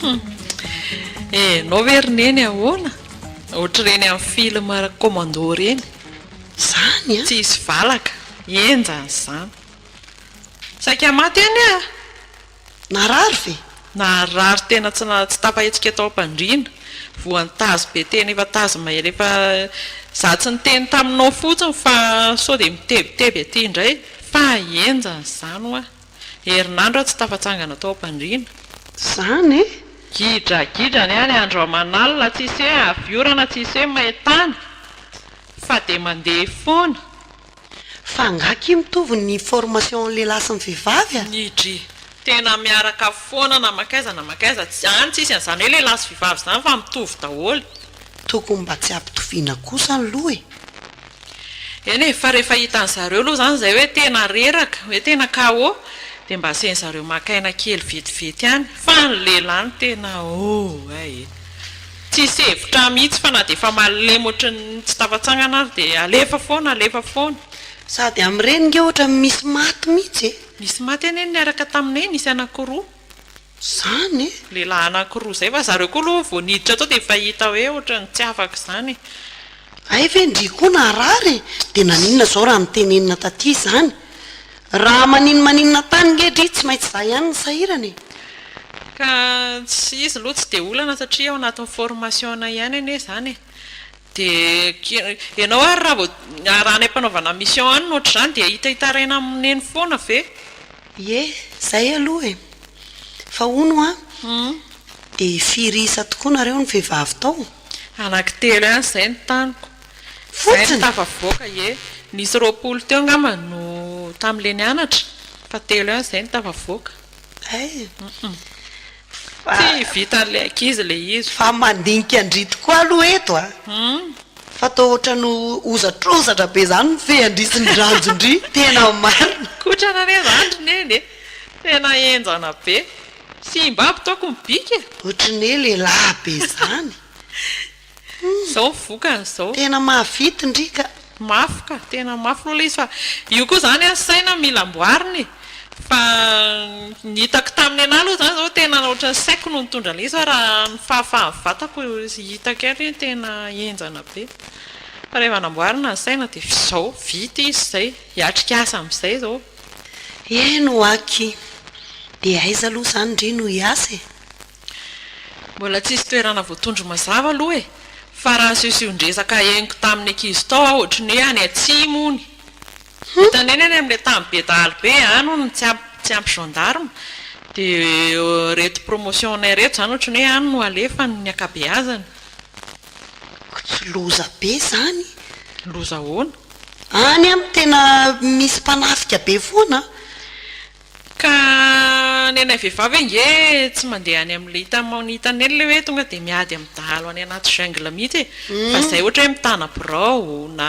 Hum. Eh enao ve ry neny ahoana? Ohatr'ireny amin'ny film commando ireny. Zany an! Tsy hisy valaka. Henjana izany. Saika maty anie ah! Narary ve? Narary tena tsy na- tsy tafahetsika tao am-pandriana. Voan'ny tazo be tena efa tazo mahery efa Za tsy niteny taminao fotsiny fa sao dia mitebiteby aty indray fa henjana izany hoa. Herinandro aho tsy tafatsangana tao am-pandriana. Zany e! Gidragidra ny ahy ny andro aman'alina tsy hisy hoe avy orana tsy hisy hoe main-tany fa dia mandeha foana. Fa angaha akia mitovy ny formation an'ny lehilahy sy ny vehivavy a? Nidri, Tena miaraka foana na mankaiza na mankaiza, any tsisy an'izany hoe lehilahy sy vehivavy izany fa mitovy daholo. Tokony mba tsy hampitoviana kosa aloha e! Eny e, fa rehefa hitan'ny zareo aloha izany izay hoe tena reraka, hoe tena KO, dia mba asian'ny zareo maka aina kely vetivety ihany, fa ny lehilahy no tena oh eh e! Tsisy hevitra mihitsy fa na dia efa malemy ohatran'ny tsy tafatsangana ary dia alefa foana, alefa foana. Sady amin'ireny nge ohatran'ny misy maty mihitsy e! Nisy maty anie niaraka taminay, nisy anankiroa. zany e! Lehilahy anankiroa zay fa zareo koa aloha vao niditra tao dia efa hita hoe ohatran'ny tsy afaka izany e! Hay ve ndry koa narary e! Dia naninona izao raha mitenenina taty izany? Raha maninomaninona tany nge dry tsy maintsy za ihany no sahirana e! Ka izy aloha tsy dia olana satria ao anatin'ny formation-nay ihany anie izany e! Dia ianao ary raha vao raha any am-panaovana mission any no ohatr'izany dia hita hitaraina amin'i Neny foana ve? Ie, izay aloha e! Fa hono an, dia firy isa tokoa nareo no vehivavy tao? Anankitelo ihany izay ny taniko. Izahay no tafavoaka, ie. Nisy roapolo teo angamba no tamin'ilay nianatra, fa telo ihany izay no tafavoaka. Hay e! Tsy vitan'ilay ankizy le izy. Fa mandinika an-dry tokoa aloha eto a! Fa toa ohatran'ny hozatrozatra be zany ny fean-dry sy ny ranjon-dry, tena marina. Kotrana anie zany ry neny e! Tena enjana be. Simba aby taoko ny bika e! Ohatry ny hoe lehilahy be zany. Izao ny vokany izao. Tena mahavita ndry ka. Mafy ka, tena mafy aloha ilay izy fa io koa izany an, saina mila amboarina e. Fa ny hitako tamin'ny anah aloha izany izao tena ohatran'ny ny saiko no nitondra an'ilay izy fa raha ny fahafahan'ny vatako hitako ihany hoe tena henjana be. Fa rehefa namboarina ny saina dia izao, vita izy izay. Hiatrika asa amin'izay izao. Eny ho'aky. Dia aiza aloha izany ndry no hiasa e? Mbola tsisy toerana voatondro mazava aloha e! Fa raha session-dresaka henoko tamin'ny ankizy tao aho ohatry ny hoe any atsimo hono. Hitany eny any amin'ilay tany be dahalo be any hono ny tsy ampy tsy ampy gendarme dia ireto promotion-nay ireto izany ohatry ny hoe any no alefany ny ankabeazany. Koa tsy loza be izany? Loza ahoana? Any amin'ny tena misy mpanafika be foana an! Ka ny anay vehivavy ange tsy mandeha any amin'ilay hitan'ny maha hitan'ny ela ilay hoe tonga dia miady amin'ny dahalo any anaty jungle mihitsy e, fa izay ohatra hoe mitana birao na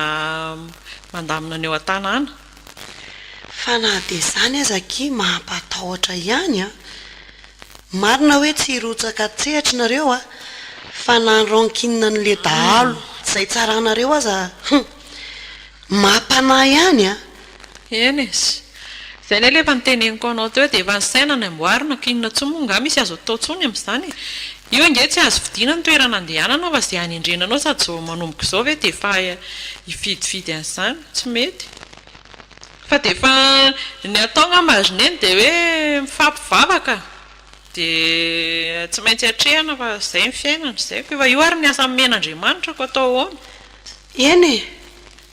mandamina ny eo an-tanàna. Fa na dia izany aza akia mampatahotra ihany an! Marina hoe tsy hirotsaka an-tsehatra nareo an! Fa na ny rankine an'ilay dahalo izay tsaranareo aza hum! Mampanahy ihany an! Eny e, izay indray ilay efa noteneniko anao teo dia efa ny saina no amboarina ka inona intsony moa angaha misy azo atao intsony amin'izany e? Io ange tsy azo fidiana ny toerana andehanana fa izay hanendrena anao sady izao manomboka izao ve dia efa hifidifidy an'izany? Tsy mety. Fa dia efa, ny atao angamba ry neny dia hoe mifampivavaka dia tsy maintsy atrehina fa izay ny fiainana, izay koa efa io ary ny asa nomen'Andriamanitra koa atao ahoana? Eny e!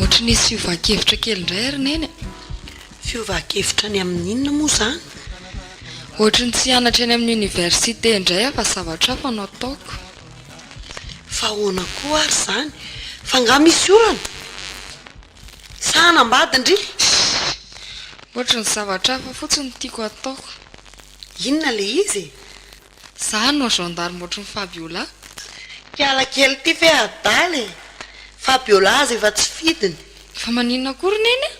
Ohatran'ny nisy fiovan-kevitra kely indray ry Neny e! Fiovan-kevitra any amin'inona moa izany? Ohatran'ny tsy hianatra eny amin'ny oniversite indray aho fa zavatra hafa no ataoko. Fa ahoana koa ary izany? Fa angaha misy orana? Sa hanambady-ndry? Shhh! Ohatry ny zavatra hafa fotsiny no tiako hataoko. Inona ilay izy e? Za hanao gendarme ohatry ny Fabiola. Hiala kely ity ve adala e! Fabiola aza efa tsy fidiny. Fa maninona koa ry Neny a?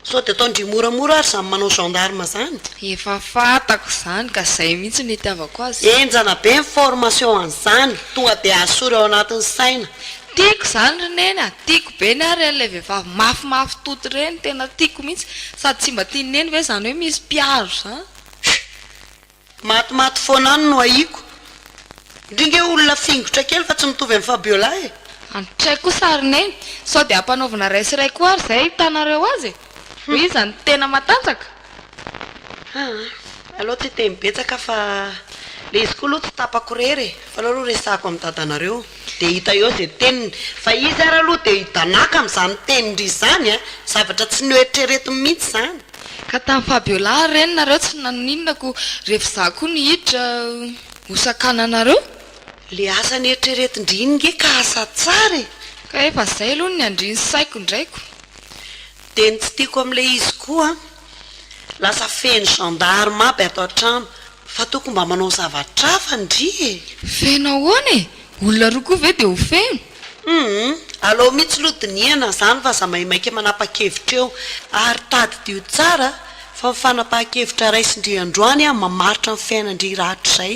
Sao dia ataondry moramora ary zany manao gendarme zany. Efa fantako zany ka zay mihitsy no itiavako azy. Enjana be ny formation an'izany, tonga dia asory ao anatin'ny saina. Tiako izany ry neny a! Tiako be ny ahy ireny ilay vehivavy mafimafy toty ireny, tena tiako mihitsy. Sady tsy mba tian'i neny ve izany hoe misy mpiaro izany? Matimaty foana any no ahiako. Ndry nge olona fingotra kely fa tsy mitovy an'i Fabiola e! Andry tray kosa ry neny, sao dia ampanaovina iray sy iray koa ary izay ahitanareo azy e! Hoy izy any tena matanjaka. Aa! Aleo tsy hiteny betsaka fa le izy koa aloha tsy tapako irery e! Fa aleo aloha resahako amin'ny dadanareo. Dia hita eo izay teniny. Fa izy ary aloha dia hidanàka amin'izany tenindry izany a! Zavatra tsy noeritreretiny mihitsy izany. Ka tamin'i Fabiola ary reny nareo tsy nanoninona ko rehefa izaho koa no hiditra ho sakananareo? Ilay asa neritreretin-dry iny nge ka asa tsara e! Ka efa izay aloha no niandrian'ny saiko indraiko. Dia ny tsy tiako amin'ilay izy koa an! Lasa feno gendarme aby ato an-trano. Fa toko mba manao zavatra hafa ndry e! Feno ahoana e! Olona roa koa ve dia ho feno? Humm! Alao mihitsy loha dinihana izany fa aza maimaika manapa-kevitra eo. Ary tadidio tsara fa ny fanapahan-kevitra raisindry androany mamaritra ny fiainandry rahatrizay.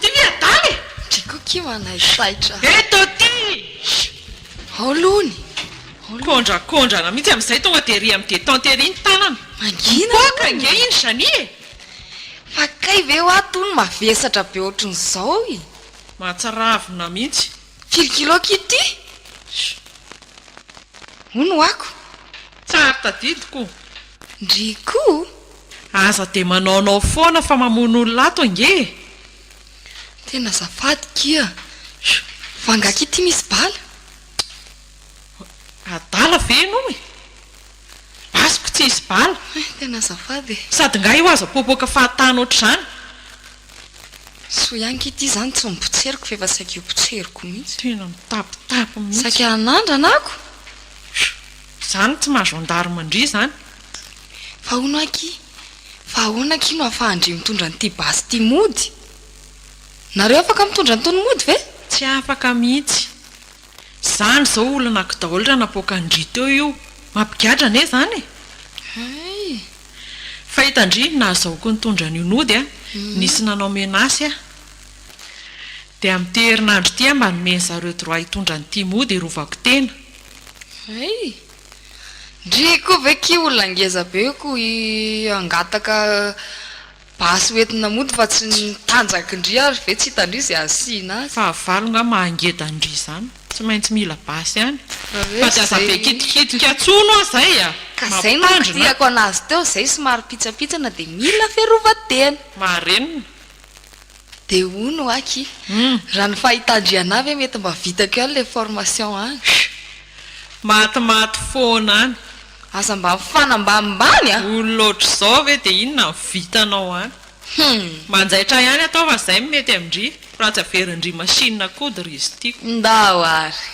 Ty ve adala e! Ndry koa kio hanaisaitra. Eto ty! Ao lony! Kondrakondrana mihitsy amin'izay tonga dia ery amin'ny détente ery ny tanana. Mangina hono! Mipoaka ange iny Janie e! Fa kay ve hoa to no mavesatra be ohatrin'izao e! Mahatsiravina mihitsy. Firy kilo kio ty? Hono hoako. Tsara tadidiko. Ndry koa! Aza dia manaonao foana fa mamono olona ato ange e! Tena azafady kia! Fa angaha ity misy bala? Adala ve ianao e? Basiko tsy hisy bala! Tena azafady e! Sady nga io aza popoka fahatany ohatr'izany! Soa ihany kia ity izany tsy nopotseriko fa efa saika io potseriko mihitsy! Tena mitapitapy mihitsy! Saika nandrana ako! Zany tsy maha gendarme ndry zany. Fa hono aky, fa ahoana aky no afahan-dry mitondra an'ity basy ity mody? Nareo afaka mitondra an'itony mody ve? Tsy afaka mihitsy. Zany izao olona aky daholo raha napoakan-dry teo io. Mampigadra anie zany e! Hay! Fa hitan-dry ny nahazahoako nitondra an'io nody a! Nisy nanao menace ahy. Dia amin'ity herinandro ity aho mba nomeny zareo droit hitondra an'ity mody hirovako tena. Hay! Ndry koa ve ki olona ngeza be ko i hangataka basy ho entina mody fa tsy ny tanjaky ndry ary ve tsy hitandry ze asiana azy. Fahavalo nga mahangeda ndry izany tsy maintsy mila basy ihany fa tsy aza be kitikitika tsono oa zay a! Ka zay no kitihako anazy teo zay somary pitsapitsana de mila fiarovatena. Marenina. Dia hono aky, raha ny fahitan-dRianah ve mety mba vitako ihany ilay formation any? Matimaty foana any. Aza mba mifana ambanimbany a! Olona ohatr'izao ve dia inona no vitanao any? Manjaitra ihany ataovy izay no mety amin-dry, fa raha tsy averin-dry machine kody ry izy ity. Ndao ary.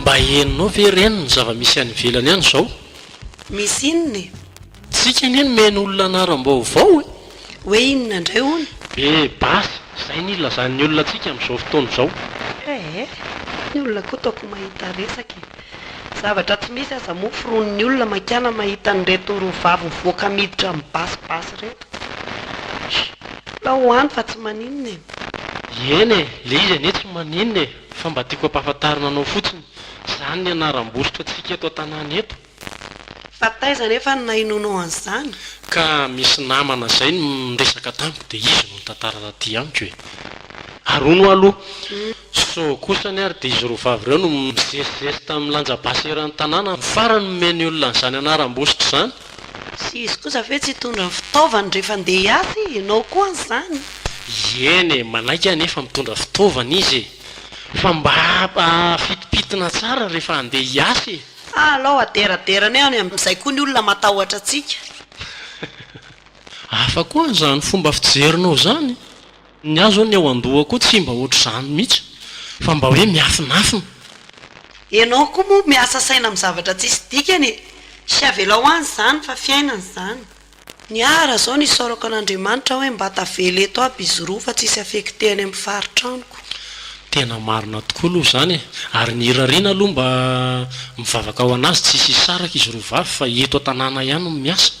Mba henonao ve reny ny zava-misy any ivelany any izao? Misy inona e? Tsika anie no miheno olona anaram-baovao e! Hoe inona indray hono? Be basy, izay ny ilazan'ny olona antsika amin'izao fotoana izao. Ee, ny olona koa toaky mahita resaka e! Zavatra tsy misy aza moa foronin'ny olona mankana mahita an'ireto roa vavy mivoaka miditra amin'ny basy basy ireto. Alao ho any fa tsy maninona e! Eny e, le izy anie tsy maninona e, fa mba tiako ampahafantarina anao fotsiny, zany ny anaram-bositra tsika eto an-tanàna eto. Fa taiza anefa no nahenoanao an'izany? Ka misy namana zay no niresaka tamiko dia izy no nitantara taty amiko e! Ary hono hoa aloha, sao kosa anie ary dia izy roa vavy ireo no mizesizesy tamin'ny lanja basy eran'ny tanàna no farany nomeny olona an'izany anaram-bositra izany? Sy izy kosa ve tsy hitondra ny fitaovany rehefa handeha hiasa e? Ianao koa an'izany? Ieny e, manaiky anefa mitondra fitaovana izy e! Fa mba afitimpitina tsara rehefa handeha hiasa e! Ah, alao aderadera anay any amin'izay koa ny olona matahotra antsika. Hafa koa izany fomba fijerinao izany. Ny ahy zao ny ao andoha koa tsy mba ohatr'izany mihitsy fa mba hoe miafinafina. Enao koa moa miasa saina amin'ny zavatra tsisy dikany e! Sy avelao any izany fa fiainana izany. Ny ahy raha zao ny isaorako an'Andriamanitra hoe mba tavela eto aby izy roa fa tsisy affecté any amin'ny faritra amiko. Tena marina tokoa aloha izany e! Ary ny irariana aloha mba mivavaka ho an'azy tsisy hisaraka izy roa vavy fa eto an-tanàna ihany no miasa.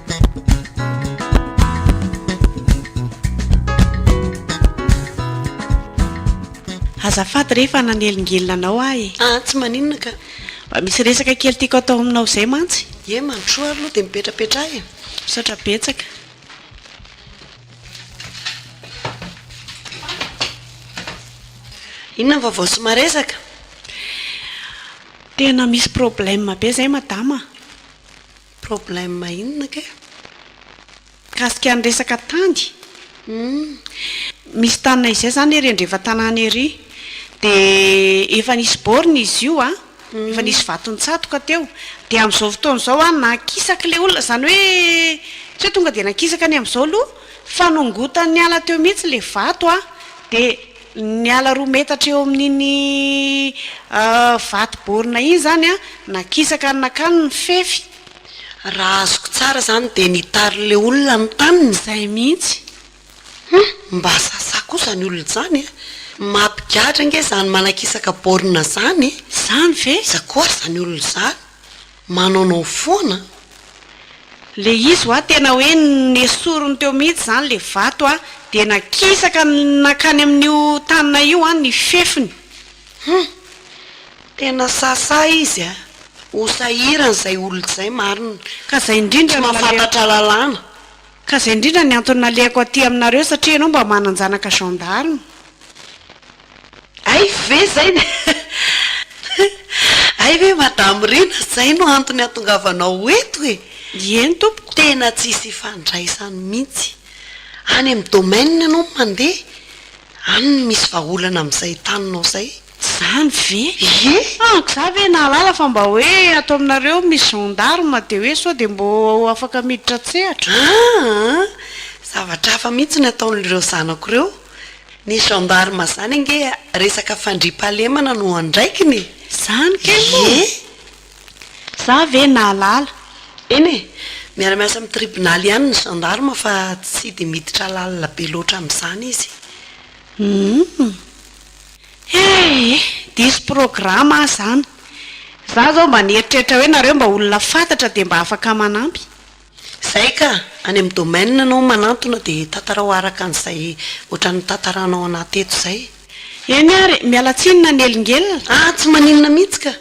Azafady re fa nanelingelina anao aho e! Ah, tsy maninona ka. Mba misy resaka kely tiako atao aminao izay mantsy. Ie, mandrosoa ary aloha dia mipetrapetraha e! Misaotra betsaka. Inona ny vaovao sy maresaka? Tena misy problème be izay madama a! Problème inona kay? Mikasika ny resaka tany? Humm. Misy taninay izay izany ery andrefantanàna ery. Dia efa nisy borne izy io an, efa nisy vato nitsatoka teo. Dia amin'izao fotoana izao an, nankisaka ilay olona, izany hoe tsy hoe tonga dia nankisaka ny amin'izao aloha, fa nongotany niala teo mihitsy ilay vato an, dia Ny ala roa metatra eo amin'iny vato baorina iny izany an, nakisaka any nakany ny fefy. Raha azoko tsara izany dia ny tarin'ilay olona ny taniny izay mihitsy. Hum, mba sasa koa izany olona izany e! Mampigadra ange izany manakisaka baorina izany e! Izany ve? Iza koa ary izany olona izany? Manaonao foana an! Le izy hoa tena hoe nesoriny teo mihitsy zany le vato a! de nakisaka nankany amin'io tanana io an ny fefiny. Hum! Tena sahasaha izy a! Ho sahirana izay olona izay marina! Ka zay indrindra Tsy no nalehako. mahafantatra lalàna. Ka zay indrindra ny antony nalehako aty aminareo satria ianao mba manan-janaka gendarme. Hay ve izay no Hay ve Madame Rina izay no antony hahatongavanao eto e? Ieny tompoko. Tena tsisy ifandraisany mihitsy. Any amin'ny domaine ianao no mandeha, any no misy vahaolana amin'izay taninao izay. Izany ve? Ie. Amiko za ve nahalala fa mba hoe ato aminareo misy gendarme dia hoe sao dia mbo afaka miditra an-tsehatra. Aa! zavatra hafa mihitsy ny ataon'ireo zanako ireo Ny gendarme zany ange resaka fandriampahalemana no andraikiny e! Zany kay moa e! Za ve nahalala. Eny e! Miara miasa amin'ny tribonaly ihany ny gendarme fa tsy dia miditra lalina be loatra amin'izany izy. Humm. Hey e! Diso programme aho zany. Za zao mba nieritreritra hoe nareo mba olona fantatra dia mba afaka manampy. Zay ka! Any amin'ny domaine anao manantona dia tantarao araka an'izay ohatran'ny nitantaranao anah teto zay. Eny ary, miala tsiny na nelingelina. Ah! Tsy maninona mihitsy ka!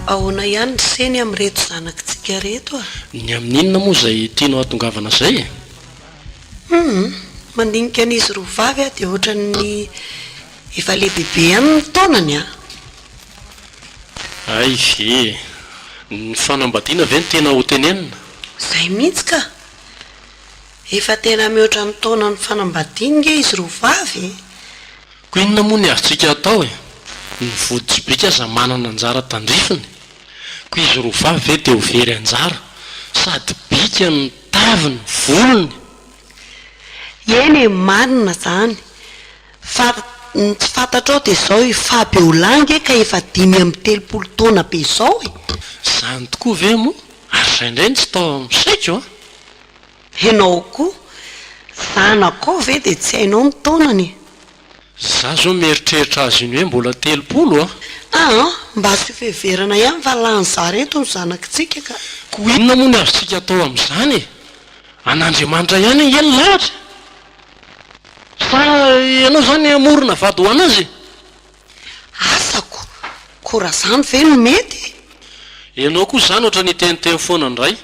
Ahoana ihany ny seny amin'ireto zanakitsika ireto a? Ny amin'inona moa izay tianao hahatongavana izay e? Humm, mandinika an'izy roa vavy aho dia ohatran'ny Efa lehibe be ihany ny taonany an! Hay ve! Ny fanambadiana ve no tena ho tenenina? Izay mihitsy ka! Efa tena mihoatra ny taona ny fanambadiany nge izy roa vavy e! Koa inona moa ny azontsika atao e! Ny voditr'bika aza manana anjara tandrifiny, koa izy roa vavy ve dia ho very anjara? Sady bika ny taviny, volony! Eny e, marina izany! Fa ny tsy fantatrao dia izao i Fabiola ange ka efa dimy amby telopolo taona be izao e! Izany tokoa ve moa? Ary izay indray no tsy tao amin'ny saiko an! Ianao koa, zanakao ve dia tsy hainao ny taonany e! Izaho izao mieritreritra azy iny hoe mbola telopolo an! Aa! Mba asio fiheverana ihany fa lany zary eto ny zanakitsika ka! Koa inona moa ny azontsika atao amin'izany e! An'Andriamanitra ihany ange ny lahatra e! Sa ianao izany hamorona vady ho an'azy e? Asako! Koa raha izany ve no mety e? Ianao koa izany ohatra ny hiteniteny foana indray.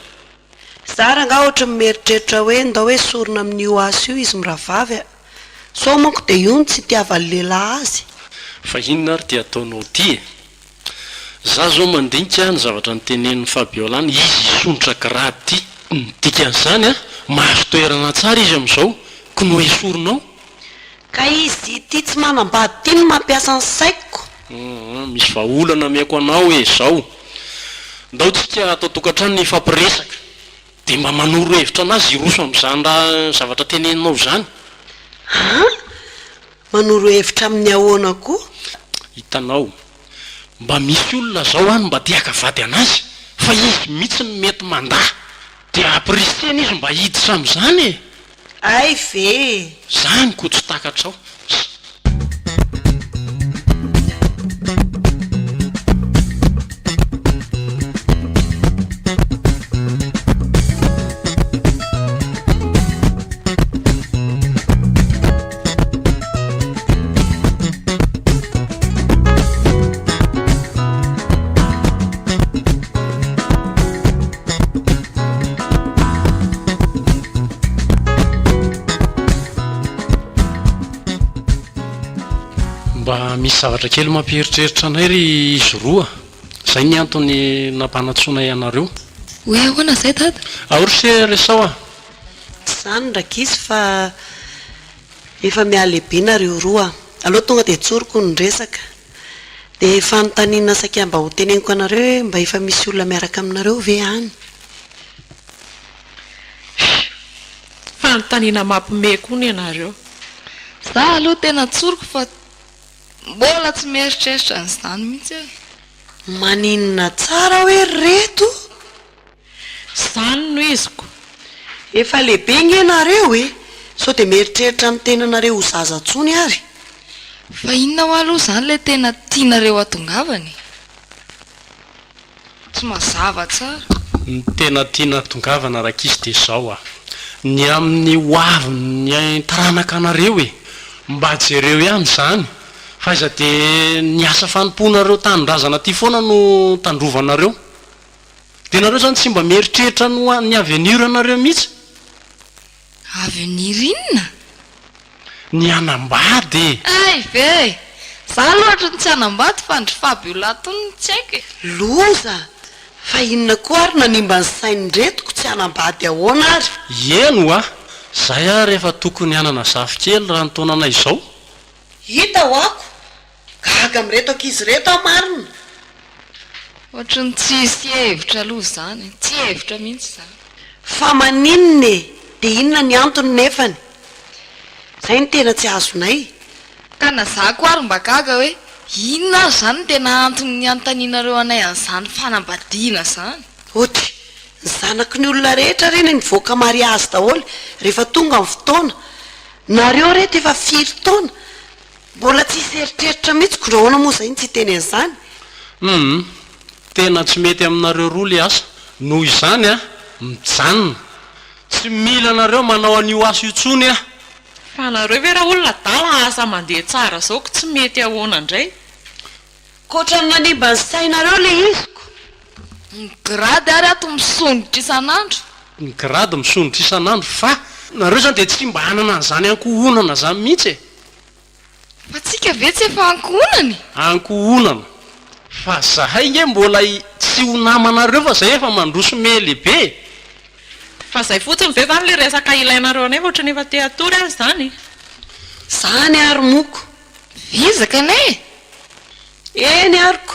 Za rangah ohatry ny mieritreritra hoe ndao hoe sorona amin'io asa io izy mirahavavy a! Sao manko dia io no tsy itiavan'ny lehilahy azy. Fa inona ary ity ataonao ity e? Za zao mandinika ny zavatra notenenin'i Fabiola ny izy hisondrotra grady ty. Ny dikan'izany an, mahazo toerana tsara izy amin'izao ko no esorina ao. Ka izy ity tsy manambady ity no mampiasa ny saiko. Aa misy vahaolana ameko anao e zao, ndao tsika ato an-tokantrano hifampiresaka de mba manoro hevitra anazy hiroso amin'izany raha zavatra teneninao izany. Aa Manoro hevitra amin'ny ahoana koa? Hitanao, mba misy olona zao any mba te haka vady anazy fa izy mitsy no mety mandà dia ampirisiany izy mba hiditra amizany e! Hay ve e! Zany ko tsy takatrao. misy zavatra kely mampieritreritra anay ry izy roa zay ny antony nampanatsoana ianareo hoe ahoana zay dada aory se resao a Tsy izany ra gisy fa efa mihalehibe nareo roa a! Aleo tonga dia tsoriko ny resaka. Dia fanontaniana saika mba ho teneniko anareo hoe mba efa misy olona miaraka aminareo ve any? Shh! Fanontaniana mampiomehy koa ny anareo. Za aloha tena tsoriko fa mbola tsy mieritreritra an'izany mihitsy aho e! Maninona tsara hoe ry reto? Zany no iziko. Efa lehibe nge nareo e! Sao dia mieritreritra ny tenanareo ho zaza tsony ary? Fa inona hoa aloha izany ilay tena tianareo hatongavana e? Tsy mazava tsara. Ny tena tiana hatongavana rakizy dia izao a! Ny amin'ny ho avin'ny taranakanareo e! Mba jereo ihany izany fa aiza dia ny asa fanompoanareo tanindrazana ity foana no tandrovanareo? Dia nareo zany tsy mba mieritreritra ny ho an'ny avenir nareo mihitsy? Avenir inona? Ny hanambady e! Hay ve! Za aloha hatry ny tsy hanambady fa ndry Fabio Lato no tsy haiko e! Loza! Fa inona koa ary no hanimba ny sain'iretiko, tsy hanambady ahoana ary? Ieny hoa! Zay ary efa tokony hanana zafikely raha ny taonanay izao! Hita ho ako! Gaga amin'ireto ankizy ireto aho marina! Ohatry ny tsisy hevitra aloha izany e! Tsy hevitra mihitsy izany! Fa maninona e! Dia inona ny antony nefany? Izay no tena tsy azonay! Ka na za koa ary mba gaga hoe inona ary izany no tena antony niantaninareo anay an'izany fanambadiana izany? Ohatry ny zanaky ny olona rehetra re ny mivoaka mariazy daholo rehefa tonga ny fotoana! Nareo reto efa firy taona? Mbola tsy hisy eritreritra mihitsy ko nahoana moa izay no tsy hiteny an'izany? Humm tena tsy mety aminareo roa le asa noho izany a mijanona tsy mila anareo manao an'io asa io tsony a! Fa nareo ve ra olona adala asa mandeha tsara zao ko tsy mety ahoana ndray? Ko otrany nanimba ny sainareo le izy ko! Ny grade ary ato misondrotra isan'andro. Ny grade misondrotra isan'andro fa. Nareo zany dia tsy mba hanana an'izany ankohonana zany mihitsy e! Fa tsika ve tsy efa ankohonana e! Ankohonana? Fa zahay nge mbola tsy ho namanareo fa zay efa mandroso mele be e! Fa zay fotsiny ve zany le resaka ilainareo anay fa otrany efa te hatory aza zany e! Zany ary moko! Vizaka ne e! Eny arko!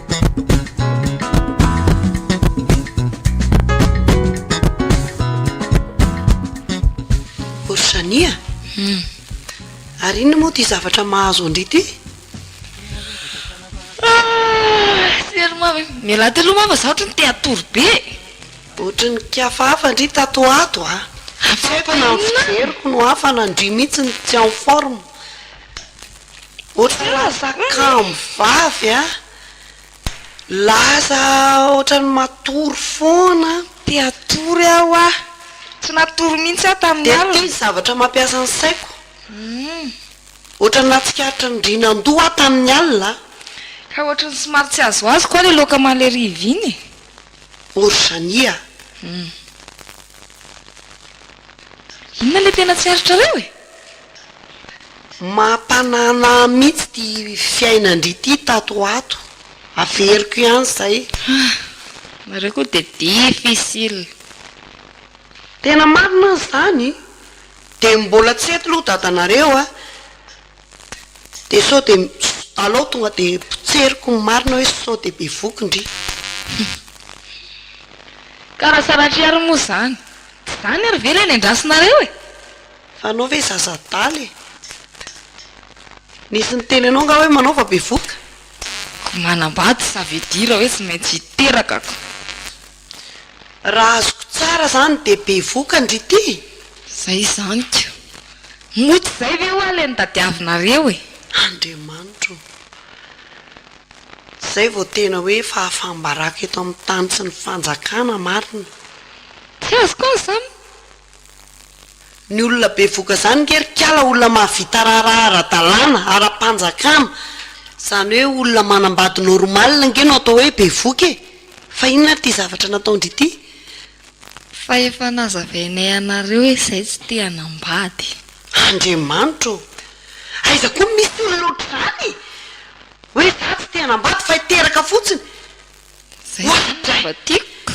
Orsania, hmm. ary inona moa ty zavatra mahazo andry ty? miala telo mama za ohatry ny te hatory be ohatry ny kiafa hafa ndry tato ato a afaina fijeriko no hafana ndry mihitsy ny tsy en forme Otrany kamo vavy a, laza otrany matory foana. Te hatory aho a, tsy natory mihitsy aho tamin'ny alina. Dia ity zavatra mampiasa ny saiko, otrany nahatsikaritra ny rinan-doha aho tamin'ny alina. Ka otrany somary tsy azoazo koa le loka maleriv iny e. Orzhani a. Inona le tena tsy aritrareo e? Mahatanana ahy mihitsy ity fiainan-dry ity tato ho ato. Averiko ihany izay. Ah! Nareo koa dia difficile. Tena marina aza izany, dia mbola tsy eto loha dadanareo a, dia sao dia alao tonga dia potseriko ny marina hoe sao dia be voky ndry. Ka raha saratriariny moa izany, tsy izany ary ve ilay nendrasinareo e? Fa anao ve zaza adala e? Nisy niteny anao nga hoe manao fa bevoka? Ko manambady ça veut dire hoe tsy maintsy hiteraka ko. Raha azoko tsara zany dia bevoka ndry ty? Zay izany ko. Moa tsy zay ve hoa le notadiavinareo e? Andriamanitro ô! Zay vao tena hoe fahafam-baraka eto amin'ny tany sy ny fanjakana marina. Tsy azoko an zany. Ny olona bevoka zany nge ry kala olona mahavita raharaha ara-dalàna, ara-panjakana, zany hoe olona manambady normal nge no atao hoe bevoka e! Fa inona ary ity zavatra nataondry ity? Fa efa nazavainay anareo hoe izay tsy te hanambady. Andriamanitra ô! Aiza koa no misy olona ohatr'izany e! Hoe za tsy te hanambady fa hiteraka fotsiny! Zay zany mba tiako.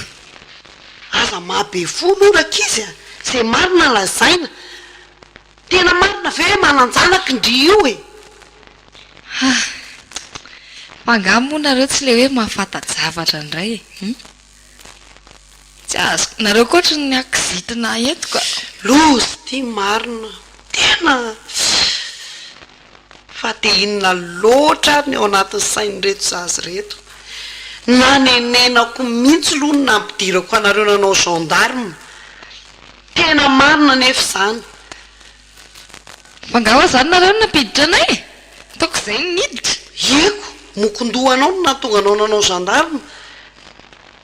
Aza maha be fo moa rankizy a! Izay marina lazaina. Tena marina ve hoe manan-janaka ndry io e? Hah! Fa angaha moa nareo tsy ilay hoe mahafanta-javatra indray e? Hum? Tsy azoko. Nareo koa ohatry ny akizitina entiko a! Loza ity marina. Tena. fa dia inona loatra ary ny ao anatin'ny sain'ireto zaza ireto? Nanenenako mihintsy aloha ny nampidirako anareo nanao gendarme, tena marina anefa izany. Fa nga hoa zany nareo no nampiditra anay e? Ataoko izay ny niditra. Ieko, mokon-dohanao no nahatonga anao nanao gendarme,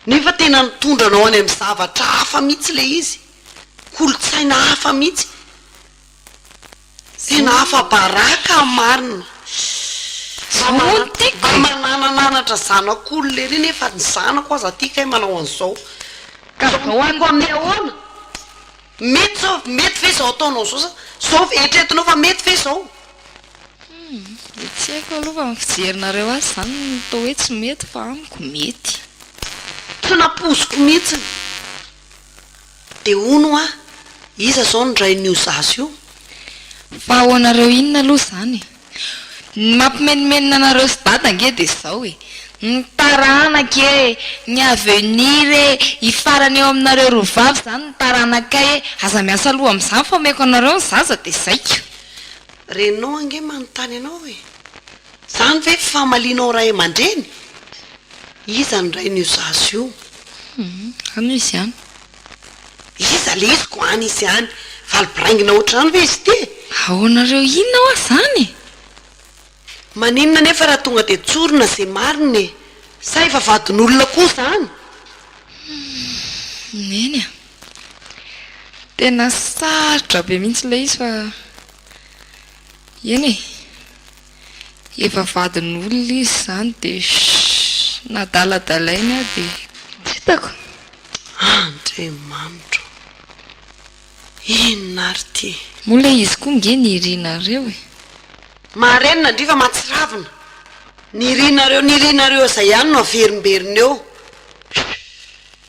nefa tena nitondra anao any amin'ny zavatra hafa mihintsy ilay izy, kolontsaina hafa mihintsy. Tena afa-baraka marina. Fa mananananatra zanako olona ery nefa ny zanako aza ty kay manao an'izao. Ka zao mipiko amin'ny ahoana? Mety zao, mety ve zao ataonao zao sa zao eritreretinao fa mety ve zao? Dia tsy haiko aloha fa ny fijerinareo azy izany no atao hoe tsy mety fa amiko mety. Tena poziko mihitsy. Dia hono hoa iza izao no rain'io zaza io? Fa ahoanareo inona aloha izany e? Ny mampimenomenona anareo sy dada ange dia izao e, ny taranaka e, ny avenir e, i farany eo aminareo roa vavy izany ny taranakay e, aza miasa loha amin'izany fa omeko anareo ny zaza dia zay ko. Renao ange manontany anao e. Zany ve famalianao ray amandreny? Iza ny rain'io zaza io? Hum, any izy any. Iza le izy ko any izy any? Valo biraingina otr'izany ve izy ity? Ahoana reo inona hoa zany e? Maninona anefa raha tonga dia tsorina ze marina e? Sa efa vadin'olona koa zany? Hum, neny a. Tena sarotra be mihitsy le izy fa. Eny e! Efa vadin'olona izy izany dia shh! Nadaladalainy aho dia. Tsy hitako! Andriamanitro ô! Inona ary ity? Moa ilay izy koa nge nirinareo e! Marenina ndry fa mahatsiravina! Nirinareo nirinareo izay ihany no averimberina eo! Shh!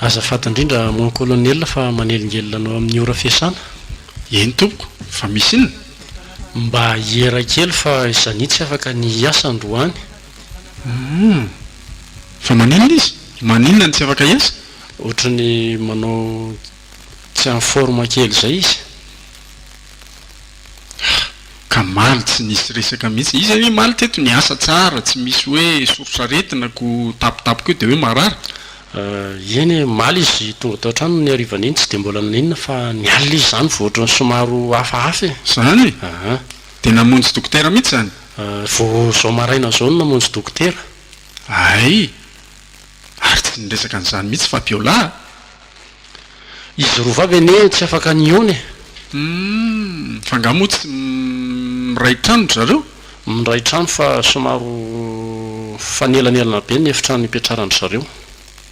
Azafady indrindra mon colonel fa manelingelina anao amin'ny ora fiasana. Eny tompoko, fa misy inona? Mba hiera kely fa Zania tsy afaka ny hiasa androany. Hum! Fa maninona izy? Maninona no tsy afaka hiasa? Ohatry ny manao tsy en forme kely izay izy. Ah! Ka maly tsy nisy resaka mihitsy. Izy anie maly teto niasa tsara, tsy misy hoe soritr'aretina ko tapotapoko eo dia hoe marary. Ah! Eny e, maly izy tonga tao an-trano ny harivan'iny tsy dia mbola naninona fa ny alina izy izany vao ohatran'ny somaro hafahafa e. Izany? Aha. Dia namonjy dokotera mihitsy izany? Ah! Vao izao maraina izao no namonjy dokotera. Hay! Ary tsy niresaka an'izany mihitsy Fabiola a! Izy roa vavy anie tsy afaka nihaona e! Humm! Fa nga moa tsy miray trano ry zareo? Miray trano fa somaro fanelanelana be ny efitrano ipetraran-dry zareo.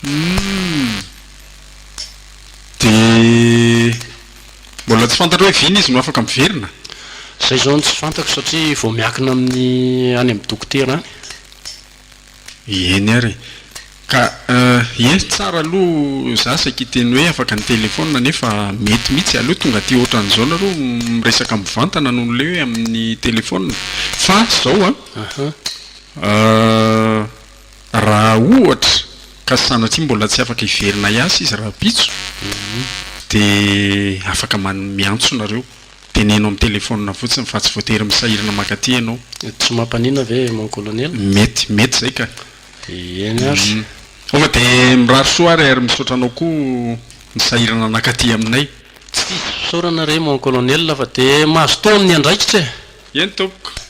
Humm! Dia mbola tsy fantatra hoe vina izy no afaka miverina? Izay izao no tsy fantako satria vao miakina amin'ny any amin'ny dokotera any. Eny ary. Ka ye, tsara aloha za saika hiteny hoe afaka ny telephone nefa mety mihitsy, aleo tonga aty ohatran'izao nareo miresaka mivantana noho ilay hoe amin'ny telephone. Fa zao an, raha ohatra ka sanatria mbola tsy afaka hiverina hiasa izy rahampitso dia afaka miantso nareo. Teneno amin'ny telefaonina fotsiny fa tsy voatery misahirana mankaty ianao. Tsy mampanina ve mon colonel? Mety, mety izay ka. Eny ary. Tonga dia mirary soa ary ary misaotra anao koa nisahirana nankaty aminay. Tsy diso fisaorana re mon colonel fa dia mazotoa amin'ny andraikitra e! Eny tompoko.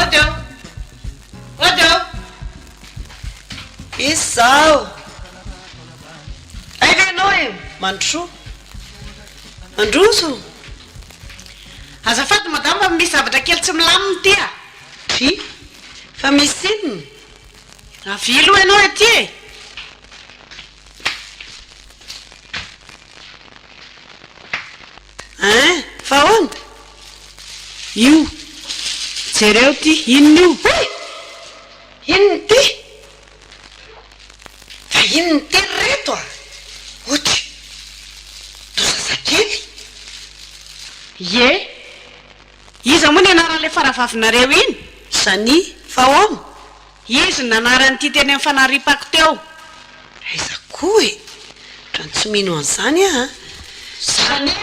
Odo! Odo! Izaho! Aiza ianao e? Mandrosoa. Mandroso! Azafady madame fa misy zavatra kely tsy milamina ity a! Dry! Fa misy inona? Avia aloha ianao ety e! Hein? Fa ahoana? Io. Jereo ity. Inona io? Hey! Inona ity? Fa inona ity ry reto a? Ouch! Toa zazakely. Ie. Iza moa ny anaran'ilay faravavinareo iny? Zani. Fa ahoana? Izy no nanary an'ity teny amin'ny fanariam-pako teo. Aiza koa e! Otrany tsy mino an'izany aho an! Salim!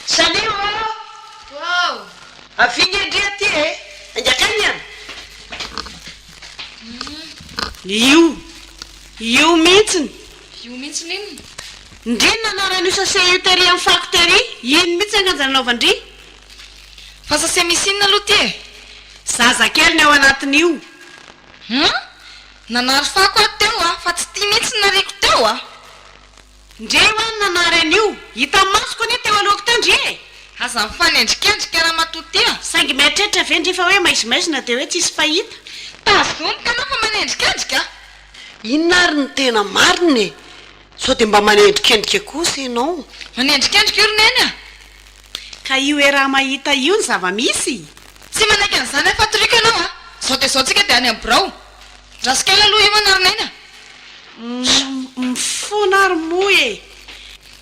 Salim ô! Waouh! Avia nge ndry aty e! Ainga akany an! Io! Io mihitsiny! Io mihitsiny inona? Ndry no nanary an'io sase io tery amin'ny fako tery! Iny mihitsy anganja nanaovan-dry! Fa sase misy inona aloha ty e? Zaza kely ny ao anatin'io. Hum? Nanary fako aho teo a, fa tsy ty mihitsy ny nariako teo a! Ndry e, ho'aho no nanary an'io. Hitan'ny masoko anie teo alohako teo ndry e! Aza mifanendrikendrika ramatoa ty a! Saingy mieritreritra ve ndry fa hoe maizimaizina dia hoe tsisy fahita? Tazomiko anao fa manendrikendrika a! Inona ary no tena marina e? Sao dia mba manendrikendrika kosa ianao? Manendrikendrika io ry Neny a! Ka io era mahita io ny zava-misy? Tsy manaiky an'izany aho fatoriko ianao a! Izao dia izao tsika dia any amin'ny birao. Razoky aina aloha io an ary naina. Mifona ary moa e!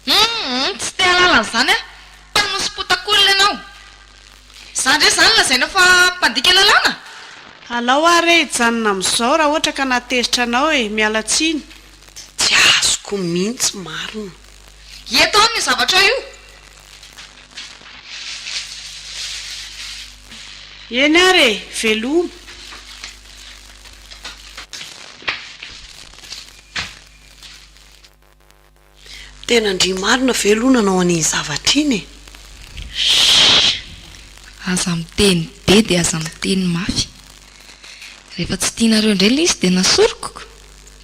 Hum! Tsy te hahalala an'izany aho. Mpanosopotak'olona ianao. Izaho indray izany lazainao fa mpandika lalàna? Alao ary re hijanona amin'izao raha ohatra ka nahatezitra anao e! Miala tsiny. Tsy azoko mihitsy marina. Ie tany io zavatra io. Eny ary e! Veloma. Tena ndry marina ve aloha nanao an'iny zavatra iny e! Shh! Aza miteny be dia aza miteny mafy. Rehefa tsy tianareo indray ilay izy dia nasoriko.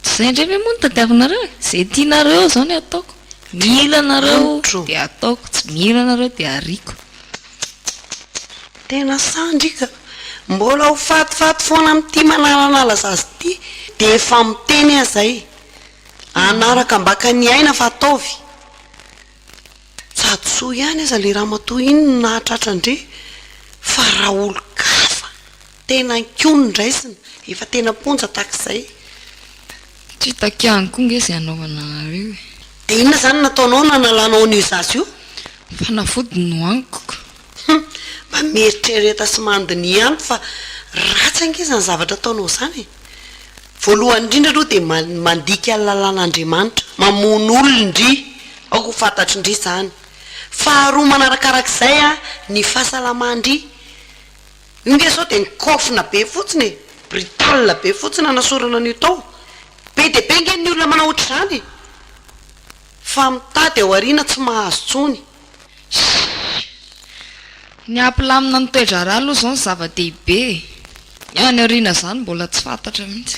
Tsy zay ndray ve moa no tadiavinareo e? Zay tianareo zao ny ataoko. Mila anareo de ataoko, tsy mila anareo de ariako. Tena sandry ka! Mbola ho fatifaty foana amin'ity manalanala zaza ity dia efa miteny aza e! Hanaraka ambaka ny aina fa ataovy! Sady soa ihany aza ilay ramatoa iny no nahatratra an-dry fa raha olon-kafa! Tena nkiony ny raisina, efa tena mponja tahak'izay. Tsy hitaky ihany koa nge ze anaovana anareo e. Dia inona izany no nataonao nanalanao an'io zaza io? Fanafody no haniko. Hum, mba mieritrereta sy mandiniha ihany fa ratsy ange izany zavatra ataonao izany e. Voalohany indrindra aloha dia mandika ny lalàn'Andriamanitra, mamono olona ndry, aoka ho fantatry ndry izany. Faharoa manarakarak'izay an, ny fahasalama ndry. Io nge zao dia nikofona be fotsiny e! Brutal be fotsiny nanasorana an'io tao. Be dia be nge ny olona manao ohatr'izany fa mitady ao aoriana tsy mahazo tsony. Shhh! Ny hampilamina ny toe-draharaha aloha izao no zava-dehibe e! Ny any aoriana izany mbola tsy fantatra mihitsy.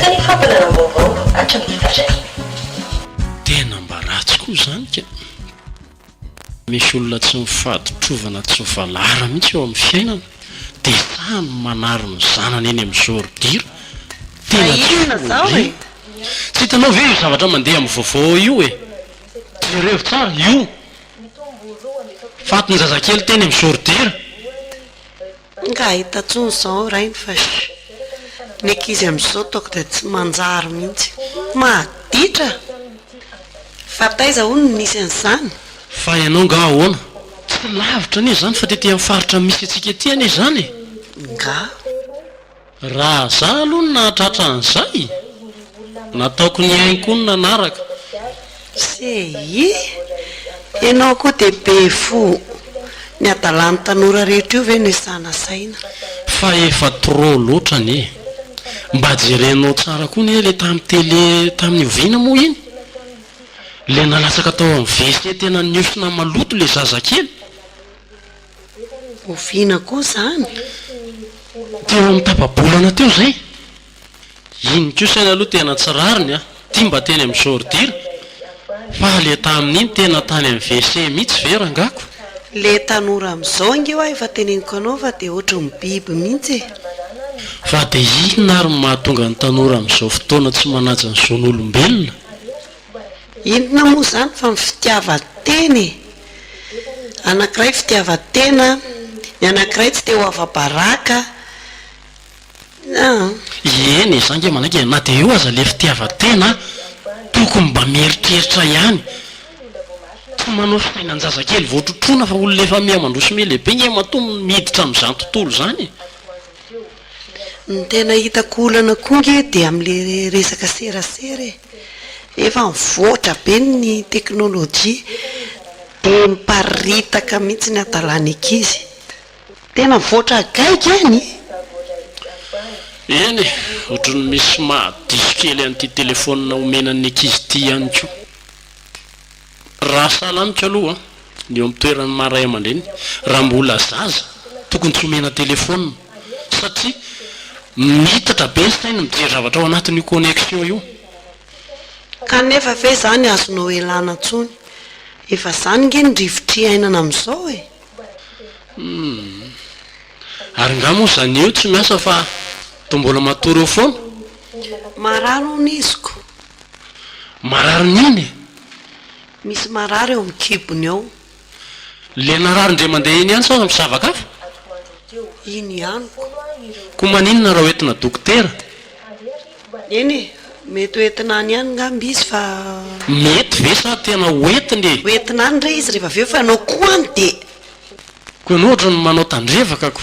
Teny fampahalalam-baovao hatramin'ny fahiny. Tena mba ratsy koa izany ka! Misy olona tsy mifaditrovana tsy mivalara mihitsy eo amin'ny fiainana dia sahy ny manary ny zanany eny amin'ny zordira, tena tsy folo e! Tsy hitanao ve io zavatra mandeha amin'ny vaovao io e? Jereo tsara io Faty ny zazakely teny amin'ny sourdire. Nga hahita tsony zao rainy fa sh. Ny ankizy amizao ataoko dia tsy manjary mihitsy. Maditra! Fa taiza hono no nisy an'izany? Fa ianao nga ahoana? Tsy lavitra anie izany fa tety amin'ny faritra misy antsika ety anie izany e! Nga. Raha za aloha no nahatratra an'izay, nataoko ny ainy koa no nanaraka. CI, Ianao koa dia be fo. Ny hadalan'ny tanora rehetra io ve no isana saina? Fa efa trop loatra anie e! Mba jerenao tsara koa anie ilay tamin'ny tele tamin'ny oviana moa iny? Ilay nalatsaka tao amin'ny WC tena niosona maloto ilay zazakely? Oviana koa izany? Teo amin'ny tapa-bolana teo izay. Iny kosa anie aloha tena tsy rariny an! Ity mba teny amin'ny Jordira. Fa ilay tamin'iny tena tany amin'ny WC mihitsy ve rangako? Ilay tanora amin'izao ange hoa efa teneniko anao fa dia ohatran'ny biby mihitsy e! Fa dia inona ary no mahatonga ny tanora amin'izao fotoana tsy manaja ny zon'olombelona? Inona moa izany fa ny fitiavan-tena e! Anankiray fitiavan-tena, ny anankiray tsy te ho afa-baraka an! Eny e, za ange manaiky e, na dia eo aza ilay fitiavan-tena, tokony mba mieritreritra ihany, tsy manao fiainan-jazakely vao trotroina fa olona efa miha-mandroso miha-lehibe ange matoa miditra amin'izany tontolo izany e! Ny tena hitako olana koa nge dia amin'ilay resaka serasera e, efa mivoatra be ny teknolojia dia miparitaka mihintsy ny hadalana ankizy, tena mivoatra gaigy any e! Eny e, ohatran'ny misy mahadiso kely an'ity telefonina omena ny ankizy ity ihany koa. Raha sahala amiko aloha ny eo amin'ny toeran'ny maha ray aman-dreny, raha mbola zaza tokony tsy omena telefaonina satria miitatra be ny sainy mijery zavatra ao anatin'io connexion io. Kanefa ve izany azonao ialana intsony? Efa izany ange ny rivotry iainana amin'izao e! Humm. Ary nga moa izany eo tsy miasa fa toa mbola matory eo foana? Marary hono izy ko. Marary mihiny e! Misy marary eo amin'ny kibony eo. Le narary ndre mandeha eny ihany sao aza misavaka hafa? Iny ihany ko. Ko maninona raha hoentina dokotera? Eny e, mety hoentina any ihany ngamba izy fa. Mety ve sa tena hoentina e? Hoentina any re izy rehefa avy eo fa anao ko any dia. Ko ianao ohatran'ny manao tandrevaka ko.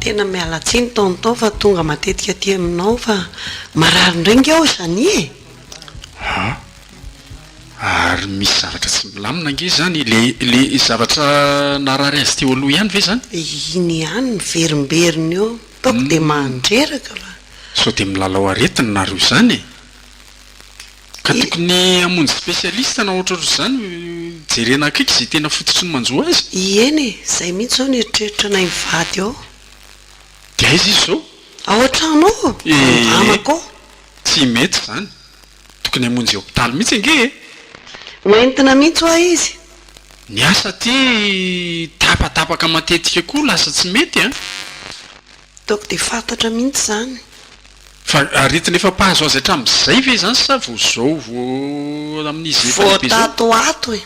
Tena miala tsiny tonton fa tonga matetika aty aminao fa marary indray nge aho zany e! An! Ary misy zavatra tsy milamina nge izany, le zavatra narary azy teo aloha ihany ve izany? Iny ihany miverimberina eo, ataoko dia mandreraka fa. Sao dia milalao aretina nareo izany e! Ka tokony hamonjy specialiste na ohatrohatr zany jerena akaiky ze tena fototry ny manjo azy. Ieny e, zay mihitsy zao ny eritreritra nay mivady ao. De aiza izy zao? Ao an-trano ao, amako ao. Tsy mety zany, tokony hamonjy hopitaly mihitsy ange e! Ho entina mihitsy hoa izy. Ny asa aty tapatapaka matetika koa lasa tsy mety an! Ataoko dia fantatra mihitsy izany. Fa aretina efa mpahazo azy hatramin'izay ve izany sa vao izao vao amin'izy efa lehibe izao? Voatatoato e!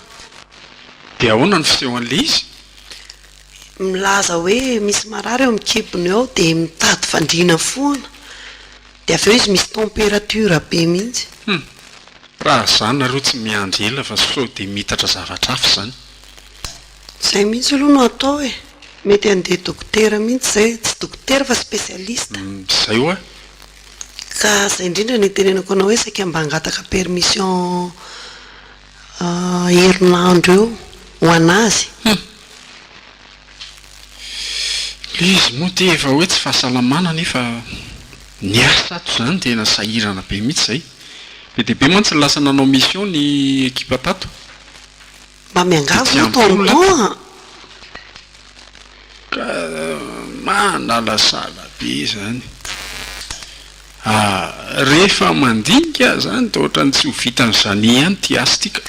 Dia ahoana ny fisehon'ilay izy? Milaza hoe misy marary eo amin'ny kibony eo aho dia mitady fandriana foana. Dia avy eo izy misy temperature be mihitsy. Hum! Raha zany nareo tsy miandry ela fa sao dia miitatra zavatra hafa izany. Zay mihitsy aloha no atao e! Mety handeha dokotera mihitsy zay, tsy dokotera fa specialiste. Zay hoa. Ka zay indrindra no itenenako anao hoe saika mba hangataka permission herinandro eo ho an'azy. Hum. Le izy moa dia efa hoe tsy fahasalamana nefa ny asa ato zany tena sahirana be mihitsy zay. Be dia be mantsy ny lasa nanao mission ny ekipa tato. Mba miangavy moa toa mitoha an! Ka mahalalasala be zany. Ah, rehefa mandinika zany dia ohatran'ny tsy ho vitan'izany ihany ity asa ity ka.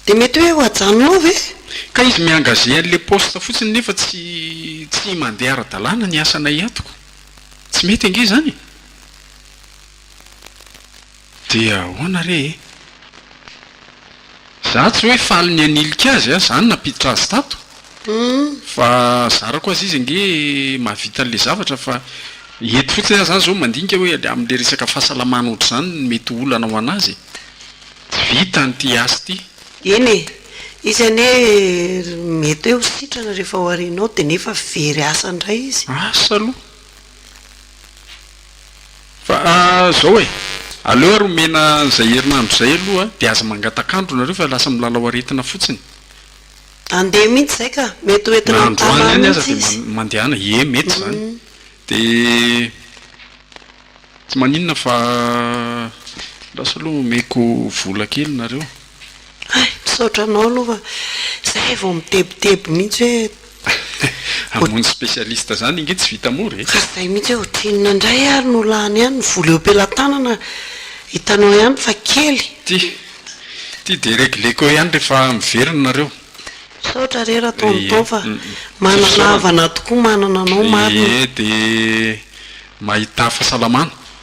Dia mety hoe ho ajanonao ve? Ka izy mi-engager an'ilay poste fotsiny nefa tsy tsy mandeha ara-dalàna ny asanay eto ka. Tsy mety ange izany e! Dia ahoana re e? Za tsy hoe faly ny hanilika azy a, za no nampiditra azy tato fa zarako azy izy ange mahavita an'le zavatra fa eto fotsiny aho zany zao mandinika hoe am'le resaka fahasalamana ohatr'izany no mety ho olana ho an'azy e. Tsy vita an'ity asa ity. Eny e, izy anie mety hoe ho sitrana rehefa ho arianao dia nefa very asa indray izy. Asa aloha. Fa zao e! Aleo ary omena an'izay herinandro izay aloha dia aza mangataka andro nareo fa lasa milalao aretina fotsiny. Andeha mihitsy izay ka! Mety ho entina amin'ny tava any mihitsy izy. Na androany any aza dia mandehana, ie mety izany. Dia tsy maninona fa lasa aloha omeko vola kely nareo. Hay, misaotra anao aloha fa izay vao mitebiteby mihitsy hoe Hamono specialiste zany inge tsy vita mora e. Fa zay mihitsy hoe otrinona ndray ary no lany ihany ny vola eo pelatanana hitanao ihany fa kely. Ty ty de regleko ihany rehefa miverina nareo. Misaotra re ra tonton fa manana havana tokoa manana anao marina. Ee de mahita fasalamana.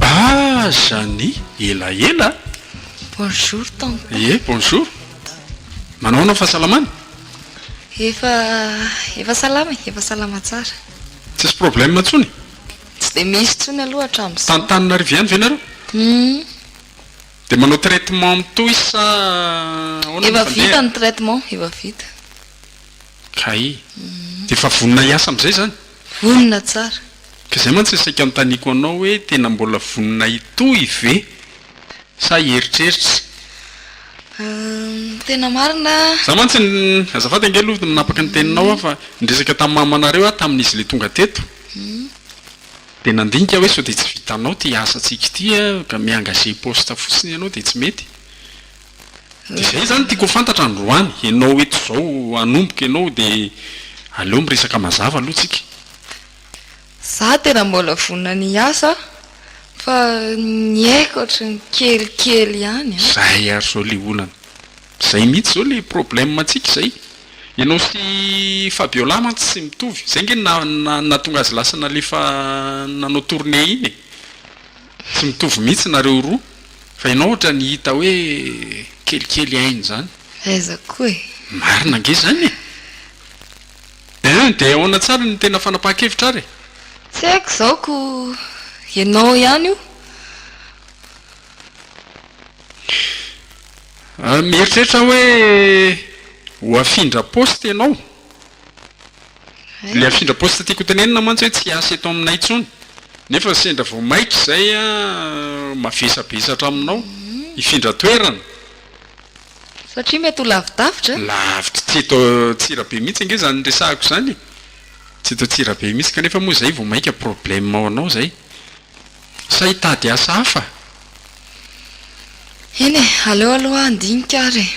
Aza ny elaela a! Bonjour tonton. Ie bonjour. Manao ahoana ny fahasalamana? Efa efa salama e, efa salama tsara. Tsisy problème intsony? Tsy dia misy intsony aloha hatramin'izao. Tany Tananarive ihany ve nareo? Hum. Dia manao traitement mitohy sa ahoana no fandeha? Efa vita ny traitement, efa vita. Kay. Dia efa vonona hiasa amin'izay izany? Vonona tsara. Ka izay mantsy no saika anontaniako anao hoe tena mbola vonona hitohy ve sa hieritreritra? Tena marina. Za mantsy ny, azafady ange aloha manapaka ny teninao aho fa niresaka tamin'ny mamanareo aho tamin'izy le tonga teto, Dia nandinika hoe sao dia tsy vitanao ity asantsika ity an, ka mi engager poste fotsiny ianao dia tsy mety? Dia izay izany no tiako ho fantatra androany, ianao eto izao hanomboka ianao dia aleo miresaka mazava aloha tsika. Za tena mbola vonona ny hiasa fa ny aiko ohatran'ny kelikely ihany an. Zay ary zao liolana. Zay mihitsy zao le problème antsika zay. Ianao sy Fabiola mantsy tsy mitovy. Zay nge nahatonga azy lasa nalefa nanao tournée iny e. Tsy mitovy mihitsy nareo roa. Fa ianao ohatrany hita hoe kelikely aina zany. Aiza koa e. Marina ange zany e. Eeh de ahoana tsara ny tena fanapahan-kevitra ary e. Tsy haiko zao ko ianao ihany io. Mieritreritra aho hoe ho afindra poste ianao. Ilay afindra poste tiako hotenenina mantsy hoe tsy hiasa eto aminay intsony. Nefa sendra vao maika izay aho mavesabesatra aminao hifindra toerana. Satria mety ho lavidavitra e? Lavitra, tsy eto Antsirabe mihitsy ange izany resahako izany e. Tsy eto Antsirabe mihitsy, kanefa moa izay vao maika problème ho anao izay. Sa hitady asa hafa? Eny e, aleo aloha handinika ary e.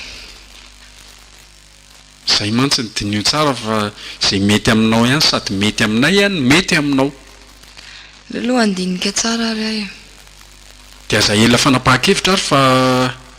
Izay mantsy no diniho tsara fa izay mety aminao ihany sady mety aminay ihany no mety aminao. Aleo aloha handinika tsara ary aho e. Dia aza ela fanapahan-kevitra ary fa.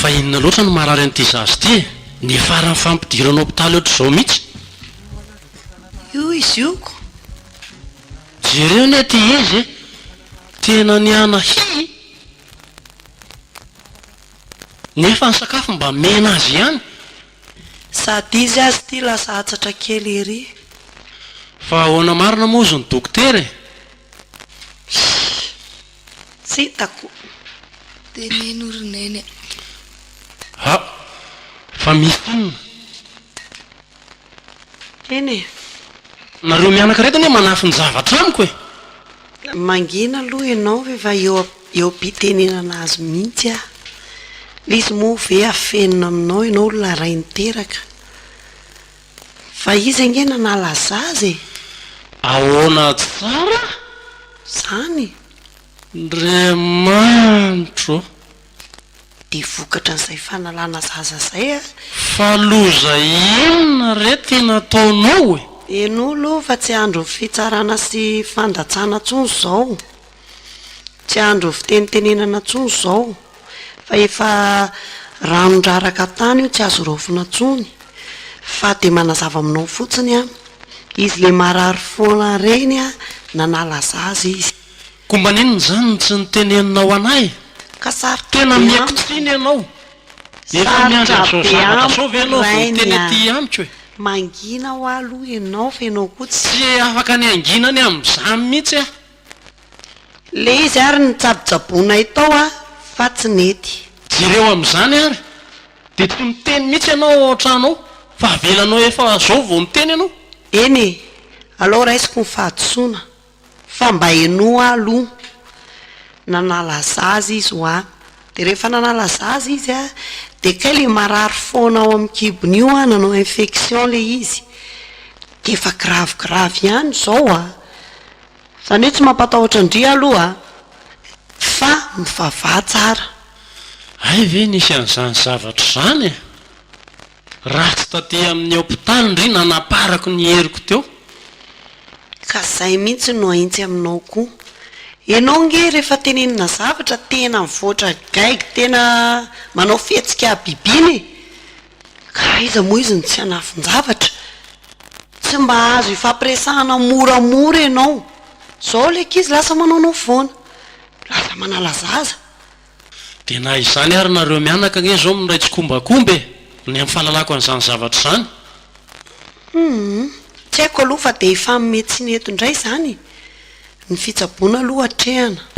Fa inona loatra no marary an'ity zaza ity e? Ny faran'ny fampidirana hopitaly ohatr'izao mihitsy. Io i zioko. Jereo anie ity izy e! Tena niana hihi! Nefa ny sakafo mba mena azy ihany. Sady izy aza ity lasa atsatra kely ery. Fa ahoana marina moa ozy ny dokotera e? Hii. Tsy hitako. Dia neny o ry neny a. Ha! Fa misy inona? Eny e. Nareo mianaka ireto anie manafin-javatra amiko e! Mangina aloha ianao ve fa eo eo am-pitenenana azy mihitsy aho. Ilay izy moa ve afenina aminao ianao olona iray niteraka. Fa izy ange nanala zaza e! Ahoana tsara? Zany. Ndriamanitro ô! dia vokatra an'izay fanalana zaza izay a. Fa loza inona re ty nataonao e? Henoy aloha fa tsy andron'ny fitsarana sy fandatsana tsony izao, tsy andron'ny fitenitenenana tsony izao, fa efa ranon-draraka tany io tsy azo raofina tsony, fa dia manazava aminao fotsiny aho, izy le marary foana reny a, nanala zaza izy. Koa mba n'inona izany no tsy niteneninao anay? Ka sarotra be amiko. Tena miha-kitsiny ianao. Efa miandry an'izao zavatra izao ve ianao vao miteny aty amiko e? Mangina hoa aloha ianao fa ianao koa tsy. Tsy afaka ny hangina ny amin'izany mihitsy aho. Ilay izy ary nitsabotsaboanay tao aho fa tsy nety. Jereo amin'izany ary dia tsy miteny mihitsy ianao ao an-trano ao fa avelanao efa izao vao miteny ianao. Eny e! Alao raisiko ny fahadisoana. Fa mba henoa aloha nanala zaza izy hoa, dia rehefa nanala zaza izy an, dia kay ilay marary foana ao amin'ny kibony io an, nanao infection ilay izy, dia efa gravy gravy ihany izao an, izany hoe tsy mampatahotra an-dry aloha fa mivavaha tsara. Hay ve nisy an'izany zavatra izany e? Ratsy taty amin'ny hopitaly ndry nanaparako ny heriko teo. Ka zay mintsy no aintsy aminao koa. Enao nge refa tenenina zavatra tena mivoatra gaigy tena manao fihetsika habibiana e! Ka aiza moa izy no tsy hanafin-javatra? Tsy mba azo ifampiresahana moramora enao. Zao le ankizy lasa manaonao foana. Lasa manala zaza. Dia na izany ary nareo mianaka ange izao miray tsikombakomba e! Ny amin'ny fahalalako an'izany zavatra izany. Humm, tsy haiko aloha fa dia hifanome tsy mety indray izany e! Ny fitsaboana aloha atrehana.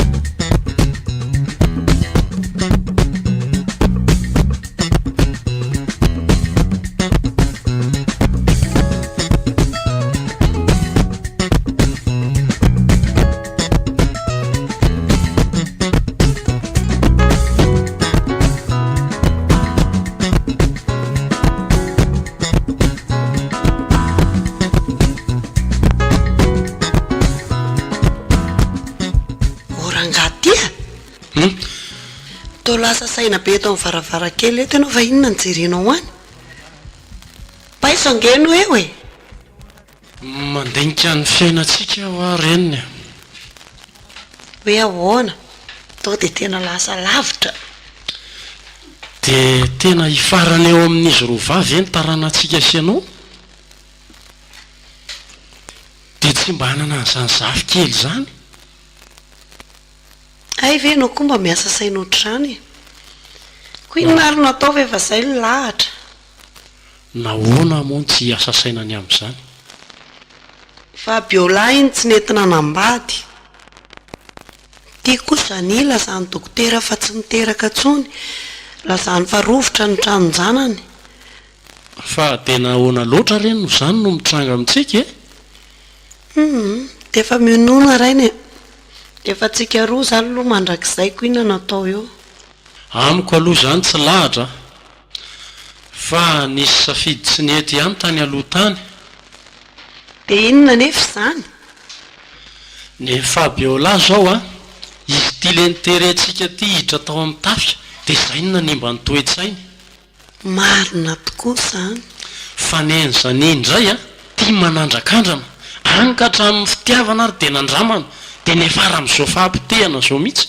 saina be eto amin'ny varavarankely eto ianao va inona ny jerenao any paiso angeno eo e Mandinika ny fiainantsika aho aho reniny a! Hoe ahoana? Tonga dia tena lasa lavitra? Dia tena hifarana eo amin'izy roa vavy ve ny taranantsika sy ianao? Dia tsy mba hanana an'izany zafikely izany? Hay ve ianao koa mba miasa saina ohatr'izany e! Koa inona ary no atao fa efa izay ny lahatra? Nahoana moa no tsy hiasa saina ny amin'izany? Fabiola iny tsy nety nanambady. Ity kosa anie lazan'ny dokotera fa tsy miteraka intsony. Lazany fa rovitra ny tranon-janany. Fa dia nahoana loatra re no izany no mitranga amintsika e? Humm, dia efa mionona rainy e! Dia efa antsika roa izany aloha mandrakizay ko inona no atao eo? Amiko aloha izany tsy lahatra a! Fa nisy safidy tsy nety ihany tany aloha tany. Dia inona anefa izany? Ny Fabiola izao an! Izy ity lenterentsika ity hiditra tao amin'ny tafika dia izay no nanimba ny toe-tsainy. Marina tokoa izany. Fanenjana indray an! Tia manandrakandrana. Any ka hatramin'ny fitiavana ary dia nandramana. Dia niafara amin'izao fahapotehana izao mihitsy.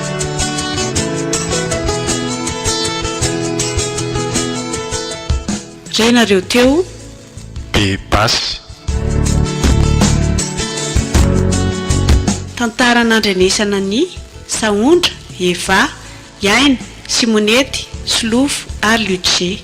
Re nareo teo be basy. Tantara nandrenesana ny, Sahondra, Eva, Iaina, Simonety, Solofo ary Luce.